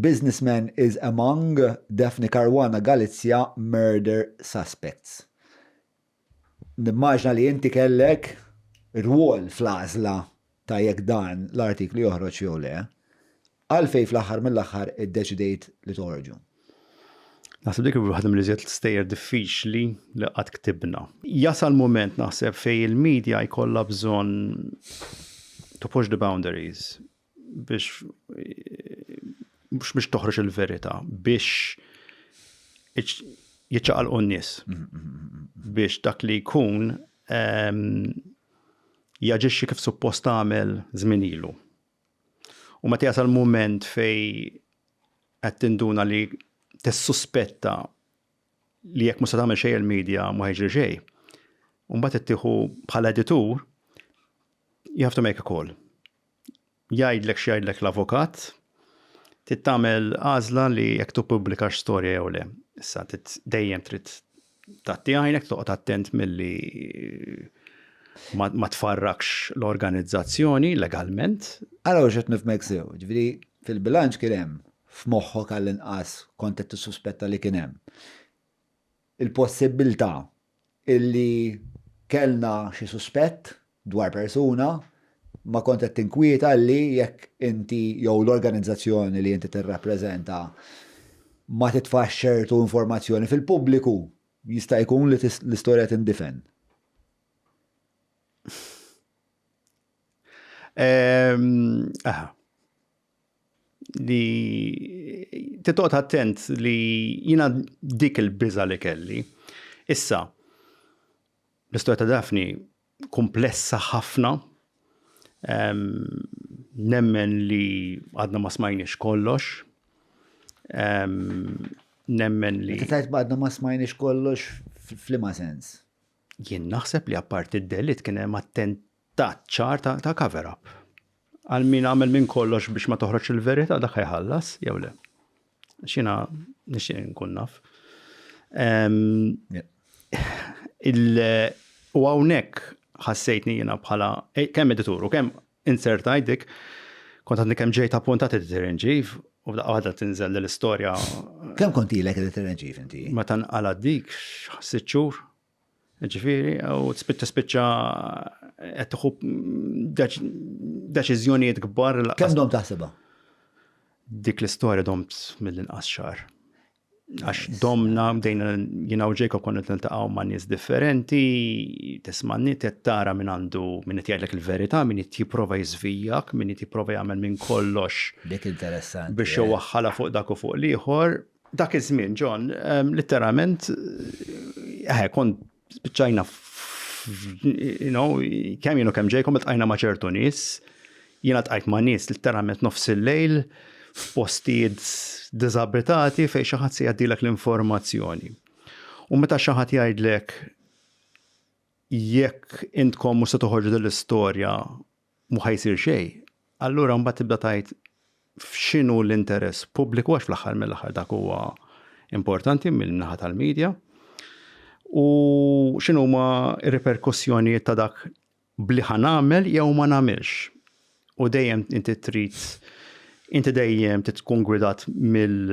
Businessman is among Daphne Caruana Galizia murder suspects. Nimmaġina li inti kellek rwol fl-għażla ta' jekk dan l-artiklu joħroġ jew le. Għalfejn fl-aħħar mill-aħħar iddeċidejt li toħorġu? Naħseb dik waħda mill-iżjed stejjer diffiċli li qatt ktibna. Jasal mument naħseb fejn il-media jkollha bżonn to push the boundaries biex biex toħroġ il-verità, biex jiċċaqalqu n-nies. Biex dak li jkun ehm, jaġixxi kif suppost għamel żmien ilu. U meta jasal mument fej qed tinduna li tissuspetta li jekk mhux se tagħmel xejn il-medja ma jiġri xejn. Mbagħad ittieħu bħala editur you have to make a call. jgħidlek x'jgħidlek l-avukat, trid tagħmel għażla li jekk tippubblikax storja jew le. Issa dejjem trid tagħti għajnek toqgħod attent milli ma tfarrakx l-organizzazzjoni legalment. Ara u xed nifmek sew, ġifieri fil-bilanċ kien hemm f'moħħok għall-inqas kont qed tissuspetta li kien hemm. il-possibbiltà li kellna xi suspett dwar persuna, ma kont qed tinkwieta li jekk inti jew l-organizzazzjoni li inti tirrappreżenta ma titfax ċertu informazzjoni fil-pubbliku, jista' jkun li l-istorja tindifen. li titoqgħod attent li jiena dik il-biża li kelli. Issa, l-istorja ta' Daphne kumplessa ħafna, ehm, nemmen li għadna ma smajniex kollox, ehm, nemmen li. Meta tajt għadna ma smajniex kollox f'liema sens? Jien naħseb li apparti d-delit kien hemm Tat ċar ta' ta' cover up. Għal min għamel minn kollox biex ma toħroġx il-verità dak ħajħallas jew le. Xina nixtieq nkun naf. U hawnhekk ħassejtni jiena bħala e, kemm editur u kemm insert għajdik kont għadni kemm ġejt appuntat editor in chief u f'daqqa waħda tinżel l-istorja. Kemm kont ilek editor in chief inti? Meta nqala dik sitt xhur. Ġifieri, u spiċċa spiċċa qed tieħu deċiżjonijiet kbar. Kemm dom taħsibha? Dik l-istorja domt mill-inqas xar. Għax domna bdejna jiena u Jacob konna niltaqgħu ma' nies differenti, tisma' nit qed tara minn għandu min qed jgħidlek il-verità, min qed jipprova jiżvijak, min qed jipprova jagħmel minn kollox. Dik interessanti. Biex iwaħħalha fuq dak u fuq l-ieħor. Dak iż-żmien, John, litteralment, eh, kont spiċċajna you know, kemm jienu kemm ġejkom tqajna ma' ċertu nies, jiena tqajt ma' nies litteralment nofs il-lejl f'postijiet diżabitati fejn xi ħadd se jgħaddilek l-informazzjoni. U meta xi ħadd jgħidlek jekk intkom mhux se toħorġu dell-istorja mhu ħa jsir xejn, allura mbagħad tibda tgħid f'x'inhu l-interess pubbliku għax fl-aħħar mill-aħħar dak huwa importanti mill-naħa tal-medja u x'inhuma r-riperkussjonijiet ta' dak bli ħa nagħmel jew ma nagħmilx. U dejjem inti trid inti dejjem tkun gwidat mill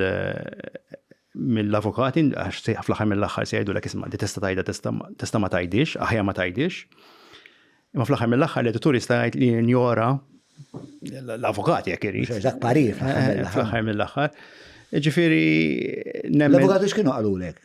mill-avukati għax fl-aħħar mill-aħħar se jgħidulek isma' di tista' tgħidha tista' ma tgħidix, aħjar ma tgħidix. Imma fl-aħħar mill-aħħar l-editur jista' jgħid li jinjora l-avukati jekk irid. Dak parir eh, fl-aħħar mill-aħħar. Ġifieri L-avukati x'kienu qalulek?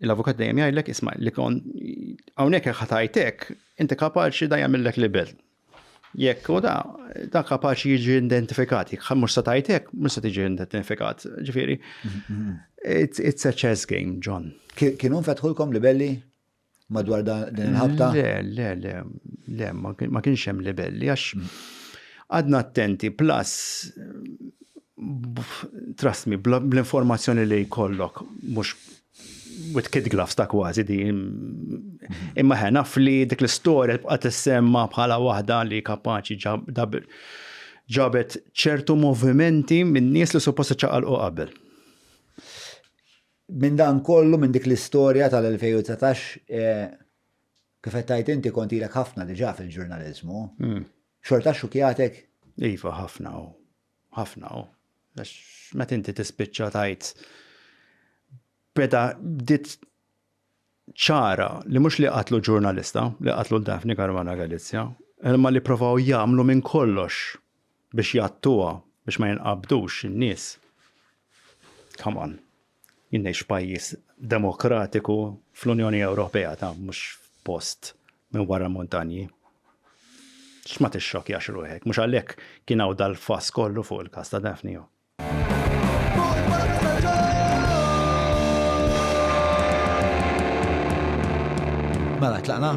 l-avukat dejjem jgħidlek isma' li kon hawnhekk jekk ħatajtek, inti kapaċi da jagħmillek libel. Jekk u da, da kapaċi jiġi identifikat, jekk mhux sa tajtek, mhux se tiġi identifikat. Ġifieri, it's a chess game, John. Kienu fetħulkom libelli madwar din il-ħabta? Le, le, le, le, ma kienx hemm libelli għax Qgħadna attenti plus trust me bl-informazzjoni li jkollok mhux with kid gloves ta' kważi di. Imma ħen naf li dik l-istorja tibqa' tissemma bħala waħda li kapaċi ġabet ċertu movimenti minn nies li suppost iċċaqalqu qabel. Minn dan kollu, minn dik l-istorja tal-2019, eh, Kif qed tgħid inti kont ilek ħafna diġà fil-ġurnaliżmu. Hmm. Xorta xukjatek? Iva, ħafna u. Ħafna u. Għax meta inti tispiċċa tajt beda bdiet ċara li mhux li qatlu ġurnalista, li qatlu Daphne Caruana Galizja, imma li provaw jagħmlu minn kollox biex jattuha biex ma jinqabdux in-nies. Come on. Jien ngħix f'pajjiż demokratiku fl-Unjoni Ewropea ta' mhux f'post minn wara l-muntanji. X'ma tixxokkjax ruħek, mhux għalhekk kien hawn dal-fass kollu fuq il-każ ta' Daphne Ho. Mela tlaqna?